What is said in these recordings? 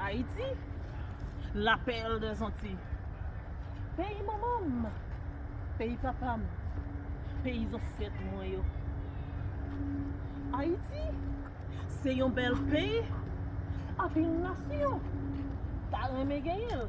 Ayiti, la perle des Antilles Peyi manman m, peyi papa m, peyi zansèt mwen yo Ayiti, se yon bèl peyi anpil nasyon ta renmen genyen l.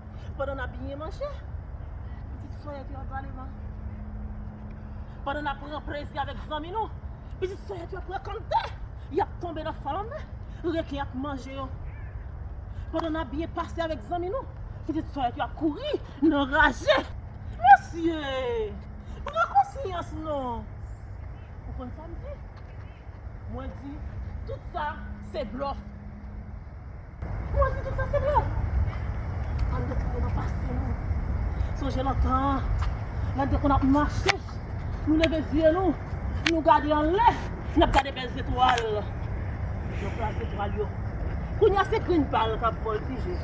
Pandan n ap byen manje, pitit sè a te ap pale m. Pandan n ap pran plezi avèk zanmi nou, pitit sè a te ap frekante. Y ap tonbe nan fanm anmè, reken ap manje yo. Pandan n ap byen pase avèk zanmi nou, pitit sè a te ap kouri nan raje. Mesye, pran konsyans non! Ou konn sa m di? Mwen di, Tout sa se blòf! Kouman di tout sa se blan? An de konn ap pase nou. Sonje lontan an, lè n te konn ap mache, nou leve zye nou, nou gade anlè, n ap gade bèl zetwal. Nan plas zetwal yo. Kounye a se grenn bal k ap vòltije.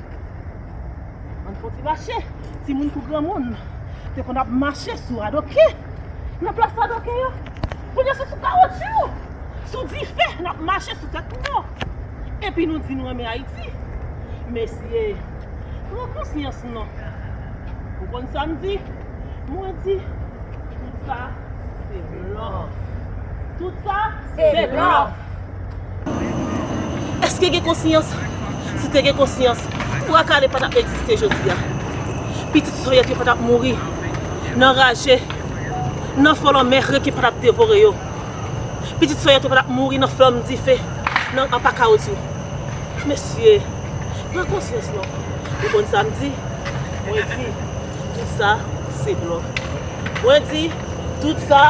An n fè yon ti mache. Timoun kou granmoun te konn ap mache sou radoke. Nan plas radoke yo. Kounye a se sou kawotchou, sou dife n ap mache sou tèt mò. Epi nou di nou renmen Ayiti. Mesye, pran konsyans non. Ou konn sa m di? Mwen di, tout sa se blòf. Tout sa se blòf. Eske gen konsyans? Si te gen konsyans, Twa Kale pa t ap egziste jodi a. Pitit soyèt yo pa t ap mouri nan raje, nan fò lanmè rèk yo pa t ap devore yo. Pitit soyèt yo pa t ap mouri nan flanm dife, nan apa kawoutchou. Mesye, pran konsyans non. Ou konn sa m di? Mwen di, Tout sa se blòf. Mwen di, Tout sa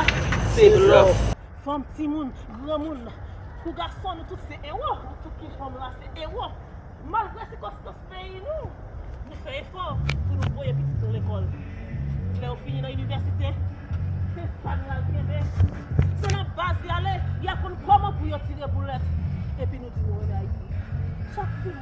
se blòf. Fanm timoun granmoun kou gason nou tout se ewo nou tout ki fanm la se ewo malgre sikonstans peyi nou nou fè efò pou nou voye pitit nou lekòl lè yo fini nan inivèsite se sa nou al kenbe se nan baz y ale y aprann kòman pou yo tire boulèt epi nou di nou renmen Ayiti chak timoun.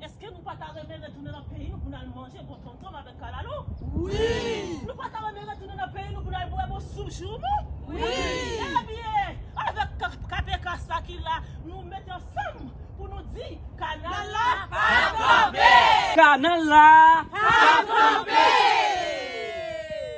Eske nou pa ta renmen retounen nan peyi nou pou n al manje bon tontonm avèk kalalou? Wi! Nou pa ta renmen retounen nan peyi nou pou n al bwè bon soup joumou? Wi! Ebyen, avèk kpkpk sa ki la, nou mete ansanm pou nou di, kanal la pa kanpe! Kanal la pa kanpe!